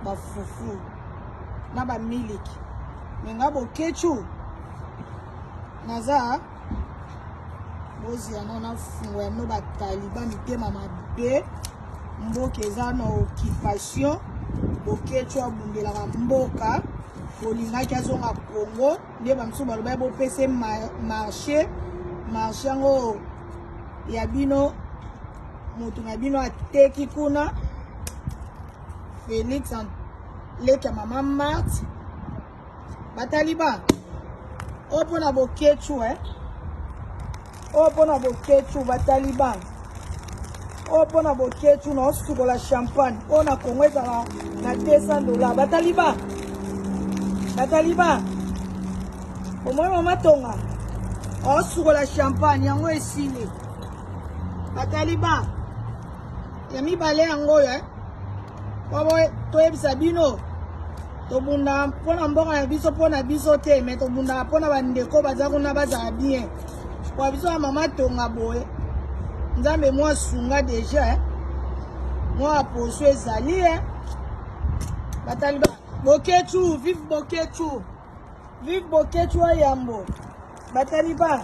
ba fufu na ba miliki me nga bokechu naza boziyano na fungo ya mino bataliba mitema mabe mboka eza na occupation bokechu abundelaka mboka bolingaki azonga congo nde bamosusu balobaki bopese marche marche yango ya bino moto na bino ateki kuna felix leki ya mama marte bataliba oyo mpo na boketshu eh? oyo mpo na boketshu bataliban oyo mpo na boketshu na osukola champagne oyo na kongo ezala na 200 dollars bataliban bataliban omoi mama tonga osukola champagne yango esili bataliban ya mibale yango oyo eh? Bobo, toyebisa bino tobunda mpo na mboka na biso mpo na biso te me tobundaka mpo na bandeko baza kuna bazala bien kwa biso ya mama tonga boye nzambe mwa sunga deja eh. mwa poso ezali e eh. bataliba boketu vive boketu vive boketu ya yambo bataliba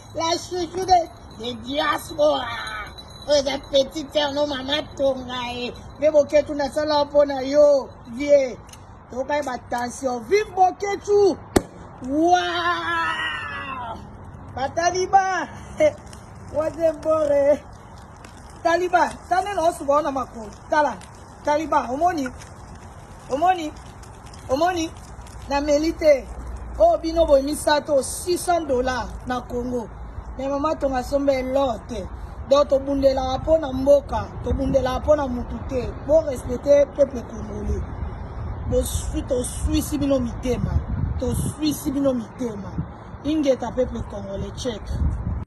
La chouchou de, de diaspora. Oyo eza petit terre no mama tonga ye. Mpe boketu nasala mpo na yo vie. Tokai ba tension. Vive boketu. Waouh. Ba taliban. Wazembore. Taliban. Tane na osuba wana makolo. Tala. Taliban omoni omoni omoni na meli te oyo oh, bino boye misato 600 dollars na congo me mama tonga somba elor te donc tobundelaka mpo na mboka tobundelaka mpo na motu te bo respecte peuple congolais bosui tosuisi bino mitema tosuisi bino mitema ingeta peuple congolais check